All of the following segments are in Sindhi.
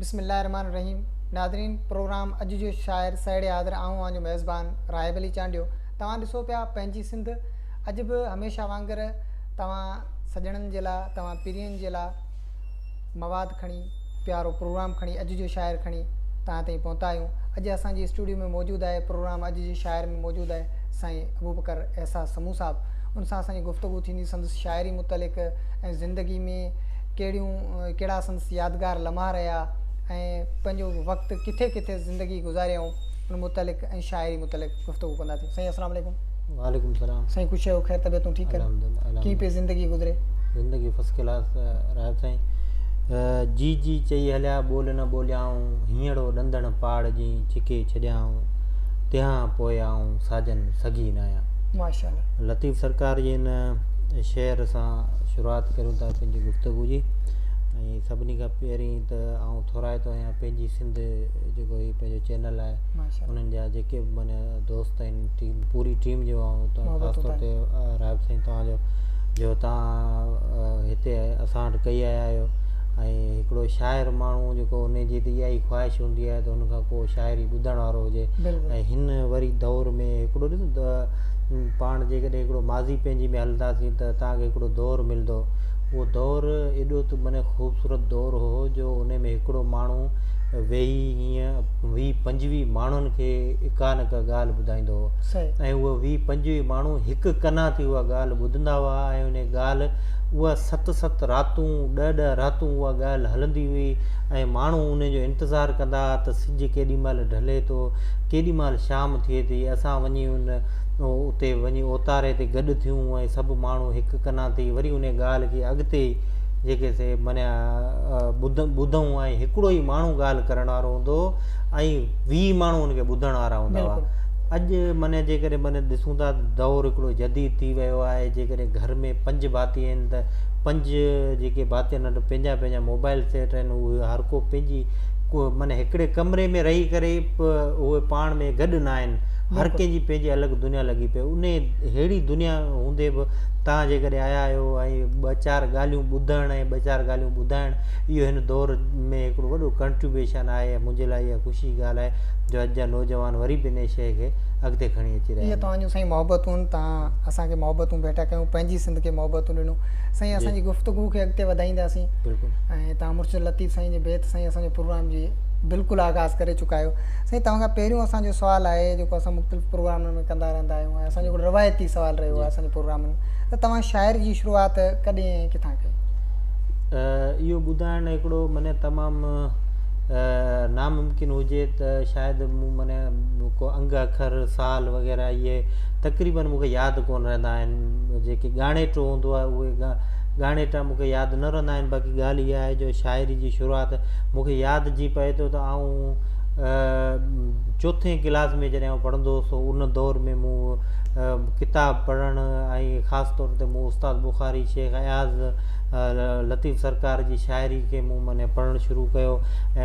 بسم الله الرحمٰن الرحيم ناظرين پروگرام اڄ جو شاعر سهيڙي حاضر آئون اوهان جو ميزبان راهب علي چانڊيو توهان ڏسو پيا پنهنجي سنڌ اڄ به هميشه وانگر توهان سڄڻن جي لاء توهان پرين جي لاء مواد کڻي، پيارو پروگرام کڻي، اڄ جو شاعر کڻي توهان تائين پهتا آهيون. اڄ اسان جي اسٽوڊيو ۾ موجود آهي پروگرام اڄ جي شاعر ۾ موجود آهي سائين ابوبڪر احساس سمون صاحب. ان سان اسان جي گفتگو ٿيندي سندس شاعري متعلق ۽ زندگي ۾ ڪهڙيون ڪهڙا سندس يادگار لمحا رهيا ۽ پنهنجو وقت ڪٿي ڪٿي زندگي گذاريائون ان متعلق ۽ شاعري متعلق. گفتگو ڪنداسين سائين اسلام عليڪم وعليڪم سلام سائين خوش آهيو خير طبيعتون ٺيڪ ڪر الحمدلله ڪي پي زندگي گذري زندگي فس ڪلاس رايو سائين جي جي چئي هليا ٻول نه ٻوليائون هينئڙو ڏندڻ پاڙ جي ڇڪي ڇڏيائون تنهان پوء آئون ساجن سگهي نه آيان ماشاءالله لطيف سرڪار جي هن شعر سان شروعات ڪريون ٿا پنهنجي گفتگو جي ۽ سڀني کان پهرين ته آئون ٿورائتو آهيان پنهنجي سنڌ جيڪو هي پنهنجو چينل آهي انهن جا جيڪي به معنيٰ دوست آهن ٽيم پوري ٽيم جو خاص طور تي رحب سائين توهانجو جو توهان هتي اسان وٽ ڪئي آيا آهيو ۽ هڪڙو شاعر ماڻهو جيڪو ان جي ته اها ئي خواهش هوندي آهي ته ان کان ڪو شاعري ٻڌڻ وارو هجي ۽ هن وري دور ۾ هڪڙو ڏسو پاڻ جيڪڏهن هڪڙو ماضي پنهنجي ۾ هلنداسين ته توهان کي هڪڙو دور ملندو اهو دور ايڏو ته معنيٰ خوبصورت دور هو جو ان ۾ هڪڙو ماڻهو ويهي ائين ويهه پنجويهه ماڻهن کي اڪا نڪا ڳالهه ٻڌائيندو هو ۽ اهي ويهه پنجويهه ماڻهو هڪ ڪنا ٿي اها ڳالهه ٻڌندا هئا ۽ انهي ڳالهه اها ست ست راتون ڏهه ڏهه راتون اها ڳالهه هلندي هئي ۽ ماڻهو ان جو انتظار ڪندا هئا ته سج ڪيڏي مهل ڍلي ٿو ڪيڏي مهل شام ٿئي ٿي اسان وڃي ان اتي وڃي اوتاري تي گڏ ٿيون ۽ سڀ ماڻهو هڪ ڪنا ٿي وري انهي ڳالهه کي اڳتي جيڪي سي منيا ٻڌون ۽ هڪڙو ئي ماڻهو ڳالهه ڪرڻ وارو هوندو هو ۽ ويهه ماڻهو ان کي ٻڌڻ وارا هوندا هئا اڄ منيا جيڪڏهن من ڏسون ٿا دور هڪڙو جديد ٿي ويو آهي جيڪڏهن گهر ۾ پنج ڀاتي آهن ته پنج جيڪي ڀاتي آهن ته پنهنجا پنهنجا موبائل سيٽ آهن اهي هر ڪو پنهنجي ڪو من هڪڙي ڪمري ۾ رهي ڪري اهي پاڻ ۾ گڏ نه آهن هر ڪنهن جي پنهنجي الڳ دنيا لڳي پئي ان ههڙي دنيا هوندي به توهان جيڪڏهن آيا آهيو ۽ ٻه چار ڳالهيون ٻڌڻ ۽ ٻه چار ڳالهيون ٻڌائڻ اهو هن دور ۾ هڪڙو وڏو ڪنٽريبيوشن آهي ۽ منهنجي لاء اها خوشي جي ڳالهه آهي جو اڄ جا نوجوان وري به انهي شيء کي اڳتي کڻي اچي رهيا آهن. توهان جون سائين محبتون توهان اسان کي محبتون ڀيٽا ڪيون پنهنجي سنڌ کي محبتون ڏنو سائين اسان جي گفتگو کي اڳتي وڌائينداسين ۽ توهان مرشد لطيف سائين جي بيت سائين اسان جو پروگرام جي بلڪل آغاز ڪري چڪا آهيو سائين توهان کان پهريون اسان جو سوال آهي جيڪو اسان مختلف پروگرامن ۾ ڪندا رهندا آهيون ۽ اسان جو هڪڙو روايتي سوال رهيو آهي اسان جي پروگرام ۾ ته توهان شاعري جي شروعات ڪڏهن ۽ ڪٿان ڪئي اهو ٻڌائڻ هڪڙو مني تمام ناممڪن هجي ته شايد مون مني ڪو انگ اکر سال وغيره اهي تقريبا مون کي ياد ڪون رهندا آهن جيڪي ڳاڻيٽو هوندو آهي اهي ڳاڻيٽا مون کي ياد نه رهندا آهن باقي ڳالهه اها آهي جو شاعري جي شروعات مون کي ياد جي پئي ٿو ته آئون چوٿين ڪلاس ۾ جڏهن آئون پڙهندو هوس ان دور ۾ مون ڪتاب پڙهڻ ۽ خاص طور تي مون استاد بخاري شيخ اياز لطيف سرڪار جي شاعري کي مون معنيٰ پڙهڻ شروع ڪيو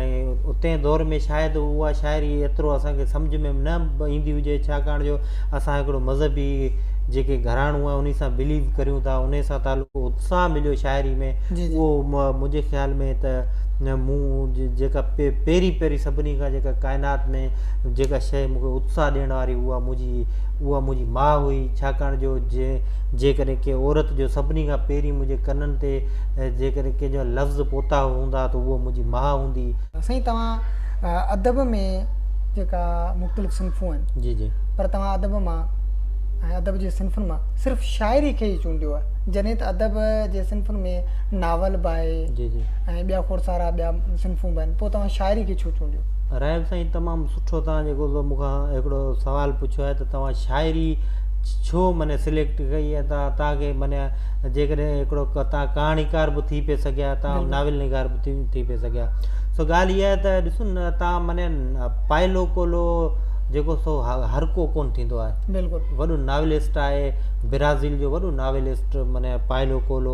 ۽ اتين دور ۾ شايد اها شاعري ايترو اسانکي سمجھ ۾ نه ايندي هجي ڇاڪاڻ جو اسان هڪڙو مذهبي جيڪي گھراڻو آهي ان سان بليو ڪريون ٿا ان سان تعلق اتساهه مليو شاعري ۾ اهو منهنجي خيال ۾ ته مون جيڪا پهرين پهرين سڀني کان جيڪا ڪائنات ۾ جيڪا شيء مون کي اتساهه ڏيڻ واري اها منهنجي اها منهنجي ماء هئي ڇاڪاڻ جو جيڪڏهن ڪنهن عورت جو سڀني کان پهرين منهنجي ڪنن تي جيڪڏهن ڪنهن جا لفظ پوتا هوندا ته اها منهنجي ماء هوندي. سائين توهان ادب ۾ جيڪا مختلف صنفون آهن جي جي پر توهان ادب مان ۽ ادب جي صنفن مان صرف شاعري کي ئي چونڊيو آهي جڏهن ته ادب جي صنفن ۾ ناول به آهي جي جي ۽ ٻيا کوڙ سارا ٻيا صنفون به آهن پوء توهان شاعري کي ڇو چونڊيو؟ رحيم سائين تمام سٺو توهان جيڪو سو مون کان هڪڙو سوال پڇيو آهي ته توهان شاعري ڇو مني سليڪٽ ڪئي ۽ توهان توهان کي مني جيڪڏهن هڪڙو توهان ڪهاڻيڪار به ٿي پئي سگهيا توهان ناول نگار به ٿي ٿي پئي سگهيا سو ڳالهه اها آهي ته ڏسو نه توهان مني پائلو ڪولو جيڪو سو هر ڪو ڪون ٿيندو آهي بلڪل وڏو ناولسٽ آهي برازيل جو وڏو ناولسٽ مني پائلو ڪولو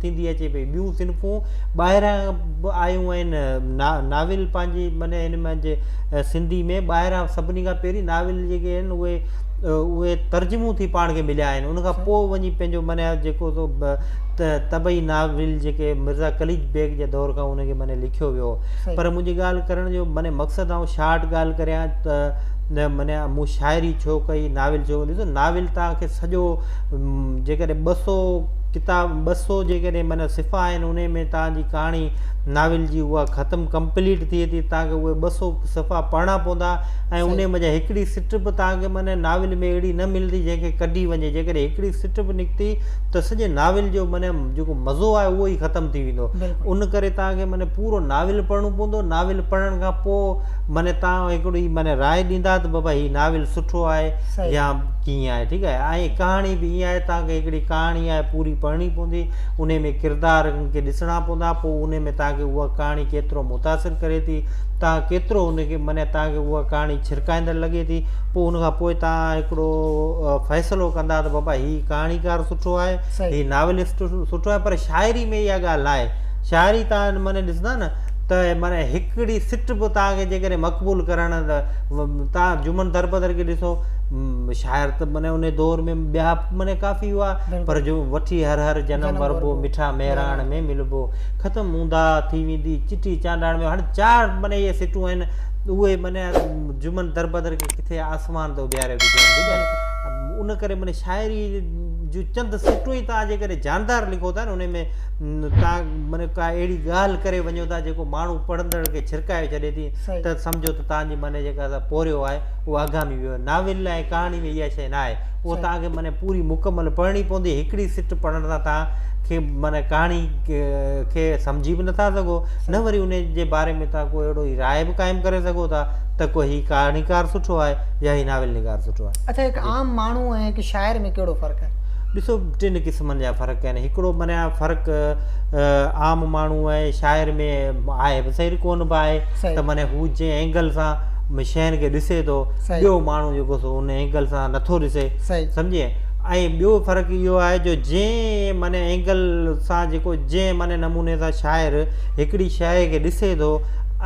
ٿيندي اچي پئي ٻيون صنفون ٻاهران به آيون آهن ناول پنهنجي معنی هن منجهه سنڌي ۾ ٻاهران سڀني کان پهرين ناول جيڪي آهن اهي اهي ترجمو ٿي پاڻ کي مليا آهن ان کان اچھا۔ پوء وڃي پنهنجو معنی جيڪو سو طبعي ناول جيڪي مرزا قليچ بيگ جي دور کان ان کي معنی لکيو ويو پر منهنجي ڳالهه ڪرڻ جو معنی مقصد آئون شارٽ ڳالهه ڪريان ته معنی مون شاعري ڇو ڪئي ناول ڇو ڏسو ناول تان کي سڄو جيڪڏهن ٻه سو ڪتاب ٻه سؤ جيڪڏهن معنيٰ صفحا آهن انهي ۾ توهان جي ڪهاڻي ناول جي اها ختم Complete ٿئي ٿي توهان کي اهي ٻه سؤ صفحا پڙهڻا پوندا ۽ انهي منجهان هڪڙي سٽ به توهان کي معنيٰ ناول ۾ اهڙي نه ملندي جنهن کي ڪڍي وڃي جيڪڏهن هڪڙي سٽ به نڪتي ته سڄي ناول جو معنيٰ جيڪو مزو آهي اهو ئي ختم ٿي ويندو ان ڪري توهان کي معنيٰ پورو ناول پڙهڻو پوندو ناول پڙهڻ کان پوء معنيٰ توهان هڪڙي معنيٰ راء ڏيندا ته بابا هي ناول سٺو آهي يا ڪيئن آهي ٺيڪ آهي ۽ ڪهاڻي به ائين آهي تان کي هڪڙي ڪهاڻي آهي پوري پڙهڻي پوندي انهي ۾ ڪردار ان کي ڏسڻا پوندا پوء انهي ۾ تان کي اها ڪهاڻي ڪيترو متاثر ڪري ٿي تان ڪيترو ان کي معني تان کي اها ڪهاڻي ڇرڪائيندڙ لڳي ٿي پوء ان کان پوء تان هڪڙو فيصلو ڪندا ته بابا هي ڪهاڻيڪار سٺو آهي هي ناولسٽ سٺو آهي پر شاعري ۾ اها ڳالهه ناهي شاعري تان معني ڏسندا نه ته معني هڪڙي سٽ به تان کي جيڪڏهن مقبول ڪرڻ ته تان جمن دربدر کي ڏسو شاعر ته معنيٰ انهي دور ۾ ٻيا معنيٰ ڪافي هئا پر جو وٺي هر هر جنم وربو مٺا مهراڻ ۾ ملبو ختم اونداهه ٿي ويندي چٺي چانڊاڻ ۾ هاڻي چار معنيٰ اهي سٽون آهن اهي معنيٰ جمن دربدر کي ڪٿي آسمان تي اڏياري وجهن ان ڪري معنيٰ شاعري جون چند سٽون ئي توهان جيڪڏهن جاندار لکو ٿا ان ۾ توهان معنيٰ ڪا اهڙي ڳالهه ڪري وڃو ٿا جيڪو ماڻهو پڙهندڙ کي ڇرڪائي ڇڏي ٿي ته سمجهو ته توهان جي معنيٰ جيڪا پورهيو آهي اهو آگامي ويو آهي. ناول ۽ ڪهاڻي ۾ اها شيء نه آهي. اهو توهان کي معنيٰ پوري مڪمل پڙهڻي پوندي. هڪڙي سٽ پڙهڻ سان توهان کي معنيٰ ڪهاڻي کي سمجهي به نٿا سگهو، نه وري ان جي باري ۾ توهان ڪو اهڙو ئي راء به قائم ڪري سگهو ٿا ته ڪو هي ڪهاڻيڪار سٺو آهي يا هي ناول نگار سٺو آهي. اڇا هڪ عام ماڻهو ۽ هڪ شاعر ۾ ڪهڙو فرق آهي؟ ڏسو ٽن قسمن جا فرق آهن. هڪڙو معنيٰ فرق عام ماڻهو ۽ شاعر ۾ آهي به صحيح ڪو نه به آهي ته معنيٰ هو جنهن اينگل سان ۾ شين کي ڏسي ٿو ٻيو ماڻهو جيڪو سو ان اينگل سان نٿو ڏسي سمجهي ۽ ٻيو فرق اهو آهي جو جنهن معنيٰ اينگل سان جيڪو جنهن معنيٰ نموني سان شاعر هڪڙي شيء کي ڏسي ٿو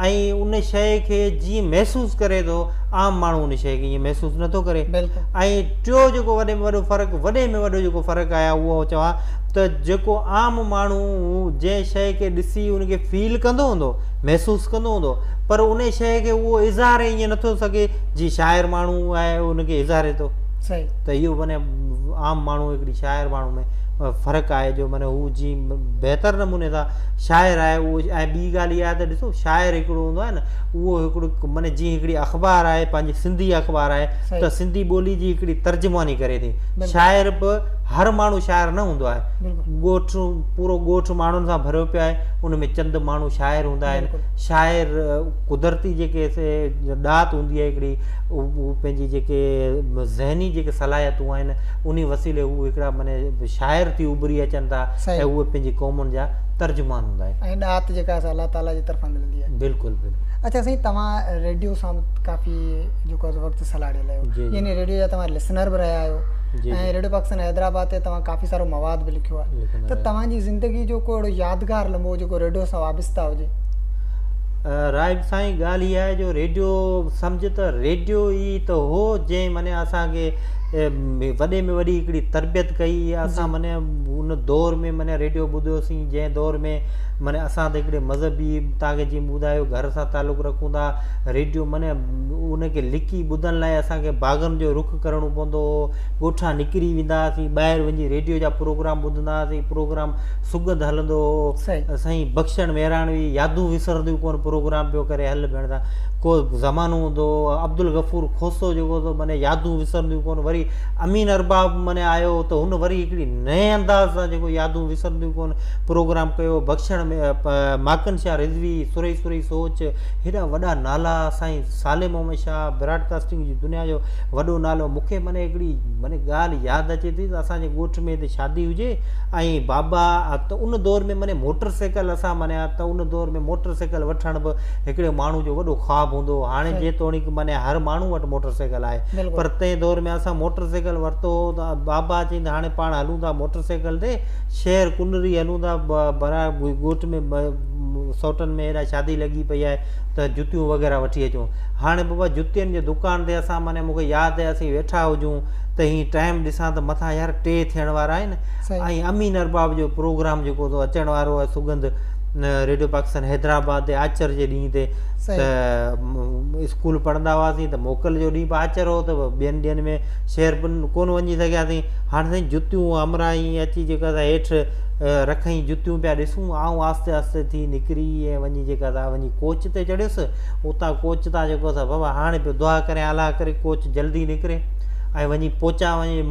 ۽ ان شيء کي جيئن محسوس ڪري ٿو عام ماڻهو ان شيء کي ائين محسوس نٿو ڪري ۽ ٽيو جيڪو وڏي ۾ وڏو فرق وڏي ۾ وڏو جيڪو فرق آهي اهو چوان ته جيڪو عام ماڻهو جنهن شيء کي ڏسي ان کي فيل ڪندو هوندو محسوس ڪندو هوندو پر ان شيء کي اهو اظهار ائين نه ٿو سگهي جي شاعر ماڻهو آهي ان کي اظهاري ٿو ته اهو معنيٰ عام ماڻهو هڪڙي شاعر ماڻهو ۾ فرق آهي جو معنيٰ هو جي بهتر نموني سان شاعر آهي اهو ۽ ٻي ڳالهه اها ته ڏسو شاعر هڪڙو هوندو آهي نه اهو هڪڙو معنيٰ جيئن هڪڙي اخبار آهي پنهنجي سنڌي اخبار آهي ته سنڌي ٻولي جي هڪڙي ترجماني ڪري ٿي شاعر به هر ماڻهو شاعر نه هوندو آهي ڳوٺ پورو ڳوٺ ماڻهن سان ڀريو پيو آهي ان ۾ چند ماڻهو شاعر هوندا آهن شاعر قدرتي جيڪي ڏات هوندي آهي هڪڙي هو پنهنجي جيڪي ذهني جيڪي صلاحيتون آهن ان وسيلي هو هڪڙا معنی شاعر ٿي اڀري اچن ٿا ۽ اهي پنهنجي قومن جا ترجمان هوندا آهن ۽ ڏات جيڪا اسان الله تعاليٰ جي طرفان ملندي آهي بلڪل بلڪل اچھا سائين توهان ريڊيو سان ڪافي جيڪو آهي وقت سلهاڙيل آهيو يعني ريڊيو جا توهان لسنر به رهيا آهيو ۽ ريڊيو پاڪستان حيدرآباد تي توهان ڪافي سارو مواد به لکيو آهي ته توهان جي زندگي جو ڪو اهڙو يادگار لمحو جيڪو ريڊيو سان وابسته هجي. راهب سائين ڳالهه اها آهي جو ريڊيو سمجهه ته ريڊيو ئي ته هو جنهن معني اسان کي وڏي ۾ وڏي هڪڙي تربيت ڪئي اسان معني ان دور ۾ معني ريڊيو ٻڌوسين جنهن دور ۾ معني اسان ته هڪڙي مذهبي تاکي جي ٻڌايو گهر سان تعلق رکون ٿا ريڊيو معني ان کي لکي ٻڌڻ لاء اسان کي باغن جو رخ ڪرڻو پوندو هو ڳوٺان نڪري ويندا هئاسين ٻاهر وڃي ريڊيو جا پروگرام ٻڌندا هئاسين پروگرام سڳنڌ هلندو هو سائين بخشڻ مهراڻوي يادون وسرنديون ڪون پروگرام پيو ڪري هل ڀيڻ سان ڪو زمانو هوندو هو عبدالغفور کوسو جيڪو هوندو معنی يادون وسرنديون ڪون وري امين ارباب معنی آيو ته هن وري هڪڙي نئين انداز سان جيڪو يادون وسرنديون ڪون پروگرام ڪيو بخشڻ ۾ ماڪن شاهه رضوي سوري سوري سوچ هيڏا وڏا نالا سائين صالح محمد شاهه براڊ ڪاسٽنگ جي دنيا جو وڏو نالو مون کي معني هڪڙي معني ڳالهه ياد اچي ٿي ته اسان جي ڳوٺ ۾ هتي شادي هجي ۽ بابا ته ان دور ۾ معني موٽر سائيڪل اسان معني ته ان دور ۾ موٽر سائيڪل وٺڻ به هڪڙي ماڻهو جو وڏو خواب هوندو هو هاڻي جيتوڻيڪ معني هر ماڻهو وٽ موٽر سائيڪل آهي پر تنهن دور ۾ اسان موٽر سائيڪل ورتو هو ته بابا چيند هاڻي پاڻ هلون ٿا موٽر سائيڪل تي شهر ڪنري هلون ٿا برا ڳوٺ ۾ سوٽن ۾ هيڏانهن شادي لڳي پئي آهي ته جتيون وغيره وٺي اچون هاڻي بابا جتين جي دڪان تي اسان معني مون کي ياد آهي اسين ويٺا هجون ته هي ٽائيم ڏسان ته مٿان يار ٽي ٿيڻ وارا آهن ۽ امين ارباب جو پروگرام جيڪو تو اچڻ وارو آهي سگند ريڊيو پاڪستان حيدرآباد تي آچر جي ڏينهن تي ته اسڪول پڙهندا هئاسين ته موڪل جو ڏينهن به آچر هو ته ٻين ڏينهن ۾ شهر ڪون وڃي سگهياسين هاڻي سائين جتيون امرائي اچي جيڪا سا هيٺ رکئي جتيون پيا ڏسون آئون آهستي آهستي ٿي نڪري ۽ وڃي جيڪا سا وڃي ڪوچ تي چڙهيس اتان ڪوچ تان جيڪو اٿس بابا هاڻي پيو دعا ڪريان الله ڪري ڪوچ جلدي نڪري ۽ وڃي پهچان وڃي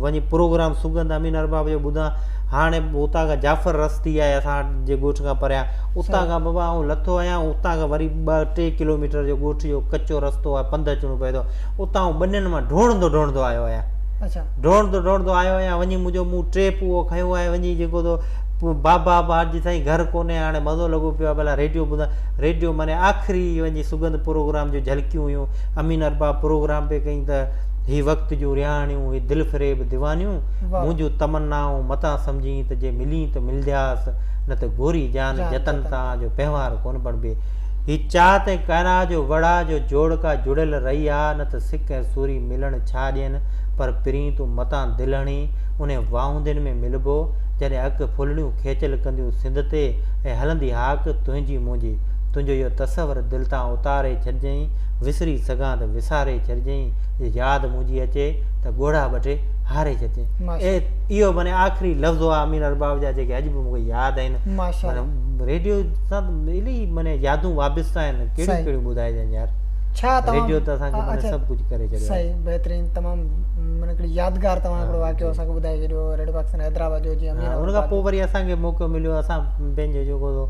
وڃي پروگرام سگند امين ارباب جو ٻڌان هاڻي اتان کان جعفر رستي آهي اسان جي ڳوٺ کان پريان اتان کان بابا آئون لٿو آهيان اتان کان وري ٻه ٽي ڪلوميٽر جو ڳوٺ جو ڪچو رستو آهي پنڌ اچڻو پئي ٿو اتان آئون ٻنين مان ڊوڙندو ڊوڙندو آيو آهيان ڊوڙندو ڊوڙندو آيو آهيان وڃي منهنجو مون ٽيپ اهو کنيو آهي وڃي جيڪو بابا بار جي سائين گهر ڪونهي هاڻي مزو لڳو پيو آهي ڀلا ريڊيو ٻڌان ريڊيو معني آخري وڃي سڳنڌ پروگرام جون جهلڪيون هيون. امين ارباب پروگرام پئي ڪئين ته هي وقت جون رهاڻيون، هي دل فريب ديوانيون، مون جون تمنائون متان سمجهين ته جي ملين ته ملندياس، نه ته گوري جان جتن تان جو پنهوار ڪونه بڻبي. هي چات ۽ ڪائناء جو وڙهه جو جوڙ ڪا جڙيل رئي آ، نه ته سڪ ۽ سوري ملڻ ڇا ڏين، پر پرين تون متان دل هڻين، انهين واهوندين ۾ ملبو، جڏهن اک ڦلڻيون کيچل ڪنديون سنڌ تي ۽ هلندي هاڪ تنهنجي منهنجي. تنهنجو اهو تصور دل تان اتاري ڇڏجئين، وسري سگهان ته وساري ڇڏجئين، جي ياد منهنجي اچي ته ڳوڙها ٻڍي هاري ڇڏجئين. اهو معني آخري لفظ هئا امين ارباب جا جيڪي اڄ به مون کي ياد آهن. ريڊيو سان ته الائي معني يادون وابسته آهن ڪهڙيون ڪهڙيون ٻڌائجن يار. ريڊيو ته اسان کي معني سڀ ڪجهه ڪري ڇڏيو آهي. بهترين تمام معني هڪڙي يادگار توهان هڪڙو واقعو اسان کي ٻڌائي ڇڏيو ريڊيو پاڪستان حيدرآباد جو جيئن ان کان پوء وري اسان کي موقعو مليو اسان پنهنجو جيڪو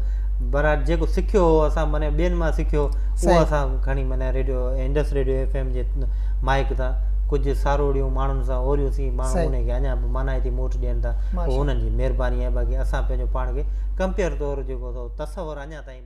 برات جيڪو سکيو هو اسان معنی ٻين مان سکيو اهو اسان کڻي معنی radio Indus radio F M جي مائڪ تان ڪجهه ساروڙيون ماڻهن سان اوريون سي ماڻهو ان کي اڃا به معنی هتي موٽ ڏين ٿا اهو انهن جي مهرباني آهي باقي اسان پنهنجو پاڻ کي ڪمپيئر طور جيڪو تصور اڃا تائين